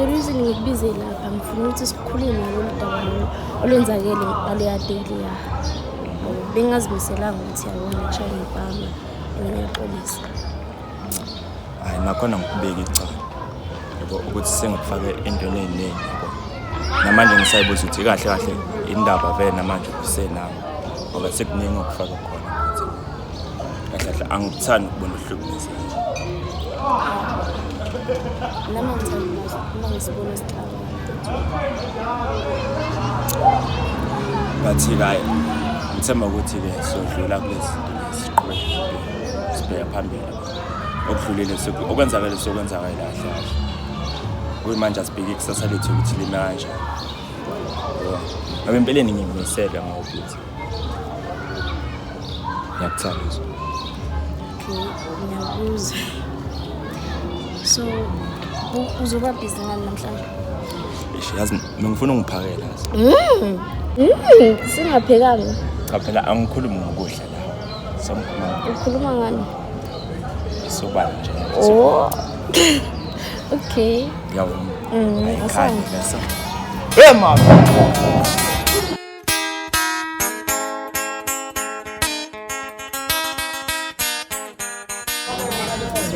the reason ngikubize lapha ngifuna ukuthi sikhulume ngoludaba lolu olwenzakele ngaleya daily ya bengazimiselanga ukuthi yabona ngishaye ngibhama and ngiyaxolisa hayi nakhona ngikubeka icala yabo ukuthi sengikufake entweni ey'ningi yabo namanje ngisayibuza ukuthi kahle kahle indaba vele namanje kusenawo ngoba sekuningi okufaka khona kahle kahle angikuthandi ukubona uhlukumezeka nami ngithanda uma ngisibona siqala ngathi kayi ngithemba ukuthi-ke sodlula kulezi siqhube sibheka phambili okudlulile okwenzakele sokwenzakale kahle kahle kuyimanje asibheke ikusasa lethu ukuthi lime kanjani ngoba empeleni ngimisele ngokuthi Ngiyakuthanda uzwe. Okay, ngiyakuzwa. So, u- uzoba busy ngani namhlanje? Eish, yazi mina ngifuna ungiphakela yazi. Mm. Mm, singaphekanga. Cha phela angikhulumi ngokudla la. Samkhuluma Ukhuluma ngani? isobala nje. Oh. okay. Yawona. Mm, Ayikhange asante. lesa. Hey mama.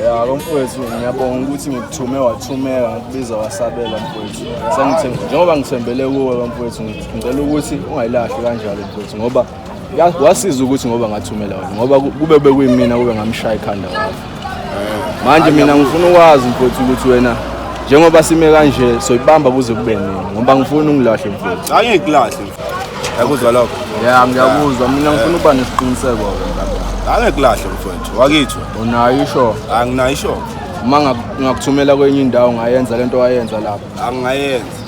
ya lo mfowethu ngiyabonga ukuthi ngikuthume wathumeka ngikubiza wasabela mfowethu sengithembe njengoba ngithembele kuwe lo mfowethu ngicela ukuthi ungayilahli kanjalo mfowethu ngoba wasiza ukuthi ngoba ngathumela wena ngoba kube bekuyimina kube ngamshaya ikhanda wayo manje mina ngifuna ukwazi mfowethu ukuthi wena njengoba sime kanje soyibamba kuze kube nini ngoba ngifuna ungilahle mfowethu hayi ngikulahle yakuzwa lokho ya ngiyakuzwa mina ngifuna ukuba nesiqiniseko ke hayi ngikulahle mfowethu wakithu unayo isho anginayo isho uma ngakuthumela kwenye indawo ngayenza lento wayenza lapha angayenza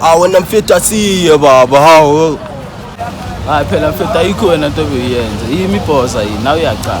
Ah, when I'm fit, I see you, Baba. How? hayi phela mfethu ayikho wena nto obeyuyenze yimi ibhoza yini nawe uyacala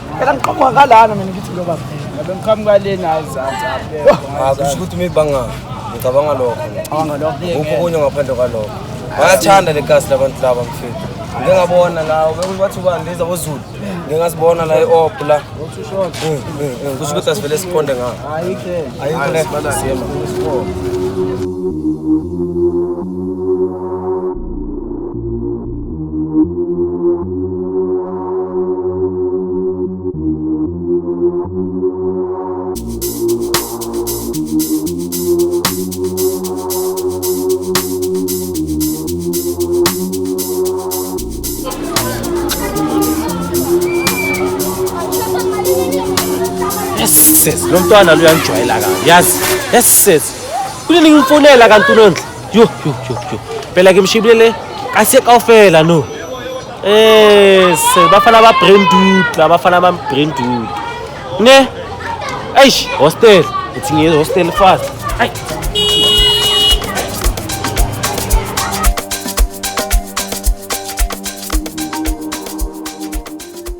Phela ngiqhamuka ngalana mina ngithi lo baba. Ngabe ngiqhamuka lena azansi abekho. Ah, kusho ukuthi mibanga ngicabanga lokho. Ngicabanga lokho. Ukho kunye ngaphandle kwalokho. Bayathanda le gas labantu laba mfethu. Ngike ngabona la bekuthi bathi ubani leza boZulu. Ngike ngasibona la eOp la. Mm, mm, mm. Kusho ukuthi asivele siqonde ngayo. Ayikho. Ayikho le. Siyema. sesi lo mntwana luyangijwayela kabi yazi yesi sesi kunini ngimfonela kanti unondla Yo yo yo yo. Phela ke mshibile le kase kaofela no. Eh se bafana ba brain dude, la bafana ba brain dude. Ne? Eish, hostel. It's in hostel fast. Ai.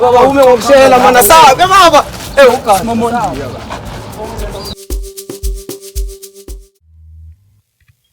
Baba ume ngokushela mwana sawa ke baba. Eh ugazi momondiya baba.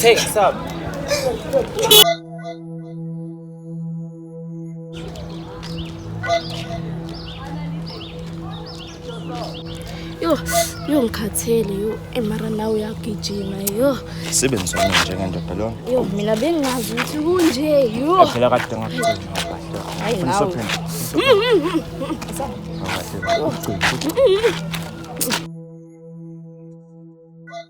Take some. Yo, yo ngikhathele yo emara nawe uyagijima yo. Sebenzi wami njengendoda lona. Yo mina bengazi ukuthi kunje yo. Phela kade ngakugcina. Hayi nawe. Hayi.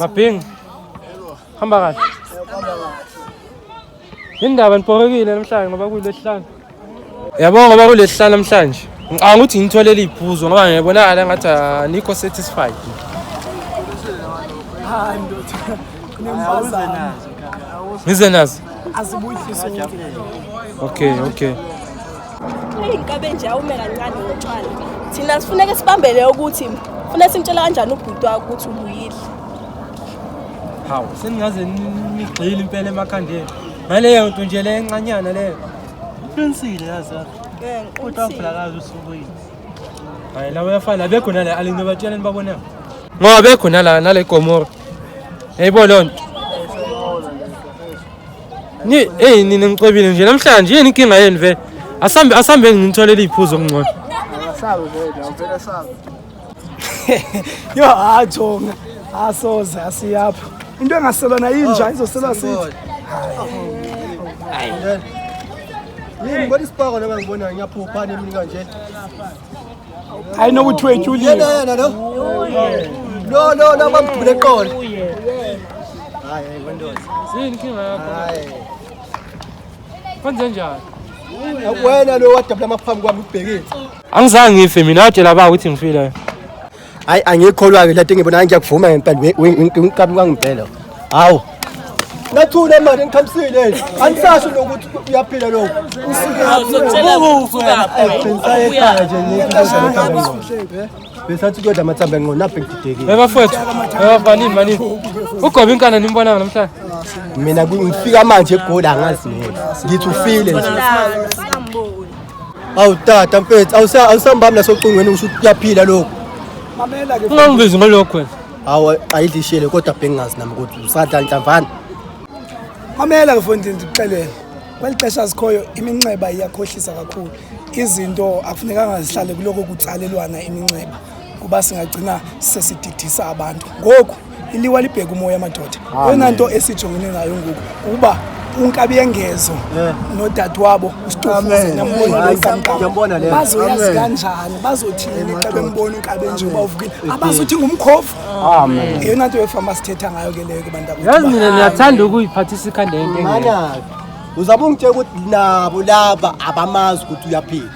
Maping. Hamba kahle. Indaba niphorekile namhlanje ngoba kulesihlanu. Yabo ngoba kulesihlanu namhlanje. Ngicabanga ukuthi ngitholele iphuzo ngoba ngiyabonakala ngathi anikho satisfied. Hayi ndoda. Kunembazana. Ngize nazo. Azibuyiswe. Okay, okay. eyinkabenje awume kancane ngotshwala thina sifuneke sibambele ukuthi funa simtshela kanjani ubhuti wakho ukuthi ubuyile hawu seningaze nigxile impela emakhandeni ngaleyo nto nje le encanyana leyo uqinisile yazi kodwa ngibulakazi usubuyile hayi lawo yafana abekho nale alino batsheleni babonela ngoba bekho nala nale gomora yayibo loo nto Ni hey nina ngicebile nje namhlanje yini inkinga yenu vele? Asambe asambe nginitholele iphuzo okungcono. Sabe vele, awuvele sabe. Yo ajonga. Asoze asiyapha. Into engaselwa na yinja oh, izoselwa sithi. Hayi. Yini kodwa isipako laba ngibonayo ngiyaphupha nemi kanje. hayi nokuthi wetshulile yena lo lo lo lo bamdubule eqolo hayi wendoza yini inkinga yakho hayi kwenze njani wena lo wadabula amaphambi kwami ubhekile angizange ngife mina watshela ba ukuthi ngifile hayi angikholwa-ke lento engibona ngiyakuvuma ngempela winkabi kwangibhela hawu nathule manje ngikhamisile anisasho nokuthi uyaphila lokho besathi kuyodla amathambo enqono aphe ngididekile ebafowethu ebafanini manini ugobe inkana nimbonanga namhlanje mina ngifika manje egoli angazi ngithi ufile nje awu tata mfethu awusa- awusambami nasocingweni usho ukuthi kuyaphila lokhu mamela ke ungangibizi ngalokho wena hawu qayidlishele kodwa bengingazi nami ukuthi usadla nhlamvana mamela ke mfondini ndikuxelele kweli xesha sikhoyo iminxeba iyakhohlisa kakhulu izinto akufunekanga zihlale kuloko kutsalelwana iminxeba kuba singagcina sesididisa abantu ngoku iliwa libheka umoya madoda yona nto esijongene nayo ngoku ukuba unkabi yengezo eh. nodadewabo ustofubazoyazi kanjani bazothini xa bembona unkabi enjengoba uvukile abazothi ngumkhovu yeyona nto yefama sithetha ngayo ke leyo kubantuyazi mina ndiyathanda ukuyiphathisa ikhanda yento uzabungitshela ukuthi nabo laba abamazi ukuthi uyaphila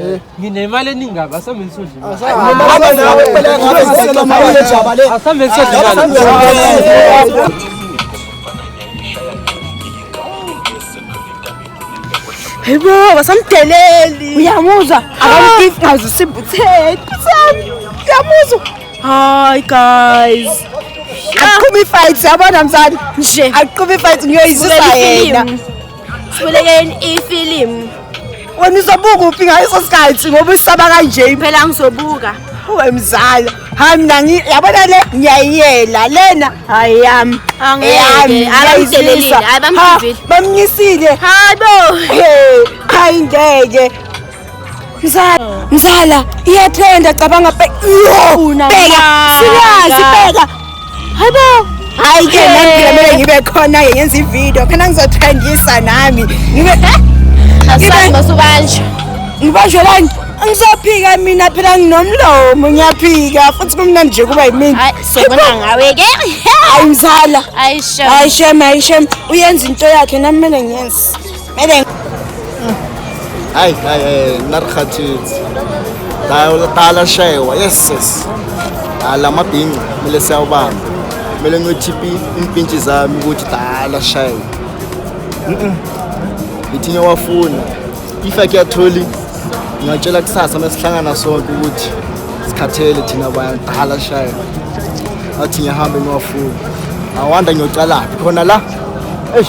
Eh. nginemali eningi kabi asambe hayibo basamdeleli uyamuzwa akamgifgazi usimbutheni uyamuzwa hayi guys akuqhuba ifight yabona mzali nje akuqhuba ifight ngiyoyizisa yena sibulekeni ifilimu wena uzobuka uphi ngaso sikhathi ngoba usaba kanje phela ngizobuka uwe mzala hayi mina yabona le ngiyayiyela lena hayi yami bamnyisile hayi bo hayi ngeke Mzala, mzala, iyatrenda cabanga bheka. Bheka, siyazi bheka. Hayibo. Hayi ke nami ngiyamele ngibe khona ke ngenza ivideo. Khona ngizotrendisa nami. Ngibe Asazi masubanje. Ngibanjwe lani? Ngizophika mina phela nginomlomo ngiyaphika futhi kumnandi nje kuba yimini. Hayi sobona ngawe ke. Hayi mzala. Hayi shem. Hayi shem, hayi shem. Uyenza into yakhe nami kumele ngiyenze. Medeng. Hayi hayi hayi narikhathitsi. Dala shewa yes yes. Ala mabhinca kumele siyawubamba. Kumele ngiyothiphi impintshi zami ukuthi dala shewa. Mhm. Ngithi ngiyawafuna. If I get tholi ngingatshela kusasa mesihlangana sonke ukuthi sikhathele thina bantu dala shewa. Athi ngihambe ngiwafuna. Awanda ngiyocala khona la. Eish.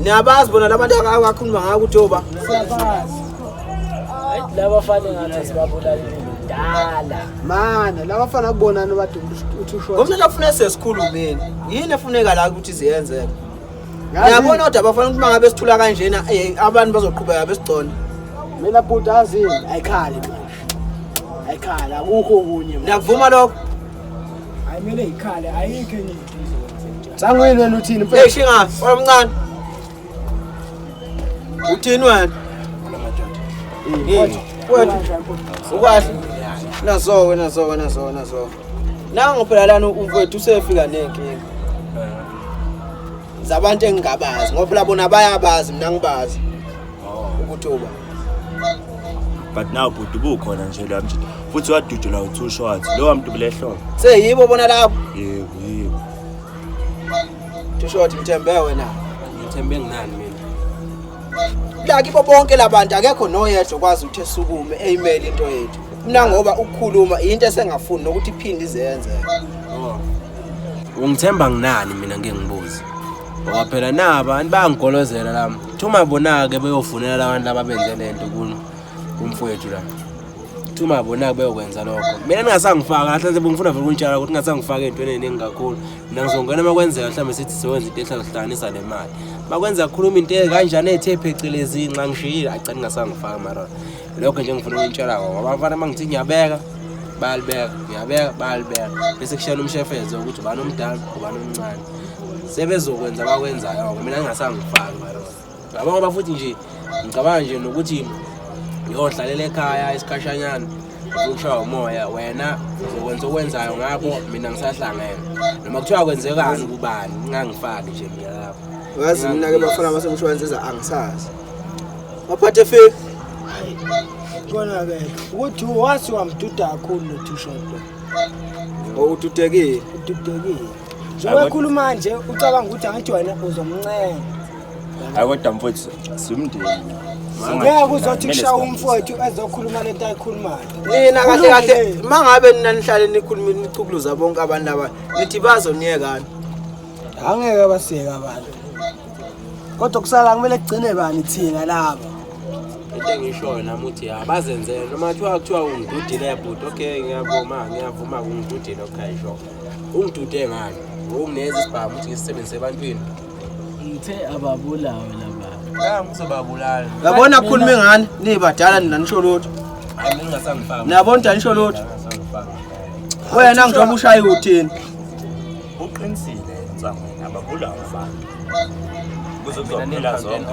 Niyabazi bona labantu akakhuluma ngako ukuthi oba. Laba fane ngathi sibabulala. kudala mane laba fana kubonani badumba uthi usho ngomntu afuna sesikhulumeni yini efuneka la ukuthi ziyenzeke ngiyabona kodwa bafana ukuthi mangabe sithula kanjena eh, abantu bazoqhubeka besigcona mina bhuti azini ayikhali ayikhali akukho okunye ngiyakuvuma lokho ayimele ikhale ayikho enye Sangwini wena uthini mfethu? Hey shinga, omncane. Uthini wena? Wethu, wethu. Ukwahle. Nazo wena zo wena zo wena zo. Nango phela lana umfethu usefika nenkinga. Zabantu engingabazi ngoba phela bona bayabazi mina ngibazi. Ukuthuba. but now bhuti bukhona nje la mjita futhi wadudula u-two shots lowa mntu kulehlobo seyibo bona lapho yebo yebo two shot ngithembe wena ngithembe nginani mina la kibo bonke labantu akekho noyedwa okwazi ukuthi esukume eyimele into yethu mina ngoba ukukhuluma into esengafuni nokuthi iphinde izenze oh. ungithemba nginani mina ngeke ngibuze ngoba phela naba abantu bayangigolozela la thuma bona-ke beyofunela labantu laba benze le nto kumfowethu la thuma bona-ke beyokwenza lokho mina ningasangifaka kahle nje bengifuna vele ukunitshala ukuthi ningasangifaka ey'ntweni ey'ningi kakhulu mina ngizongena uma kwenzeka mhlawumbe sithi siwenza into ehlazihlanganisa le mali uma kwenza kukhuluma into kanjani ey'the phecelezi nxa ngishiyile agcina ningasangifaka mara lokho nje ngifuna ukunitshela kona ngoba abafana uma ngithi ngiyabeka bayalibeka ngiyabeka bayalibeka bese kushayela umshefezo ukuthi ubani omdala ubani omncane sebezokwenza bakwenzayo ngoba mina ngingasangifaki balona ngicabanga ngoba futhi nje ngicabanga nje nokuthi ngiyohlalela ekhaya isikhashanyana ushaya umoya wena uzokwenza okwenzayo ngakho mina ngisahlangene noma kuthiwa kwenzekani kubani ngingangifaki nje mina lapho ngazi mina ke bafana basemshwalense eza angisazi waphathe fake kona ke ukuthi wasi wamduda kakhulu lo two shot ududekile ududekile njengoba ekhuluma nje ucabanga ukuthi angithi wena uzomncenga hayi kodwa mfowethu simndeni ngeke uzothi kushaya umfowethu ezokhuluma lento ayikhulumayo nina kahle kahle uma ngabe nina nihlale nikhuluma nicukuluza bonke abantu aba nithi bazoniyekani angeke basiyeke abantu kodwa kusala kumele kugcine bani thina laba into engishoyo nami uthi ya bazenzele noma kuthiwa kuthiwa ungidudile bhuti okay ngiyavuma ngiyavuma ungidudile okay sure ungidude ngani ngokungenza isibhamu ukuthi ngisisebenzise ebantwini ngithe ababulawe laba ngeke ngizobabulala yabona akhulume ngani nibadala nina nisho lutho hayi mina ngasangifanga niyabona ukuthi anisho lutho wena ngizoba ushaya uthini uqinisile ntsangweni ababulawe mfana kuzokuzophela zonke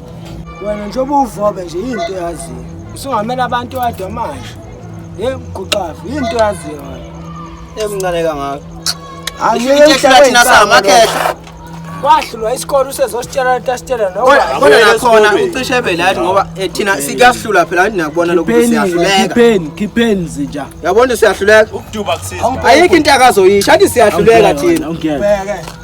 wena njengoba uvobe nje yini into yaziyo usungamela abantu wadwa manje ye mguqafu yini into yaziyo wena emncane kangaka angiyehlathina samakhehla wahlulwa isikole usezositshela lento asitshela nokodwa nakhona ucishe ebe lathi ngoba eh, thina sikuyahlula phela anti nakubona lokhu siyahlulekakhipheni khipheni zinja yabona siyahluleka ayikho into akazoyisho anti siyahluleka thina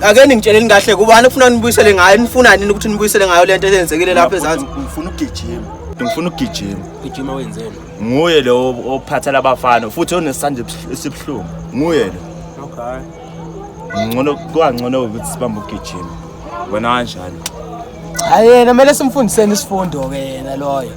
ake ningitsheleni kahle kubani kufuna nibuyisele ngayo nifuna nini ukuthi nibuyisele ngayo lento eyenzekile lapha ezansi ngifuna ukugijima ngifuna ukugijima ugijima wenzeni nguye lo ophatha labafana futhi onesandla esibuhlungu nguye lo okay ngcono kwangcono ukuthi sibambe ukugijima wena kanjani hayi yena kumele simfundiseni isifundo ke yena loyo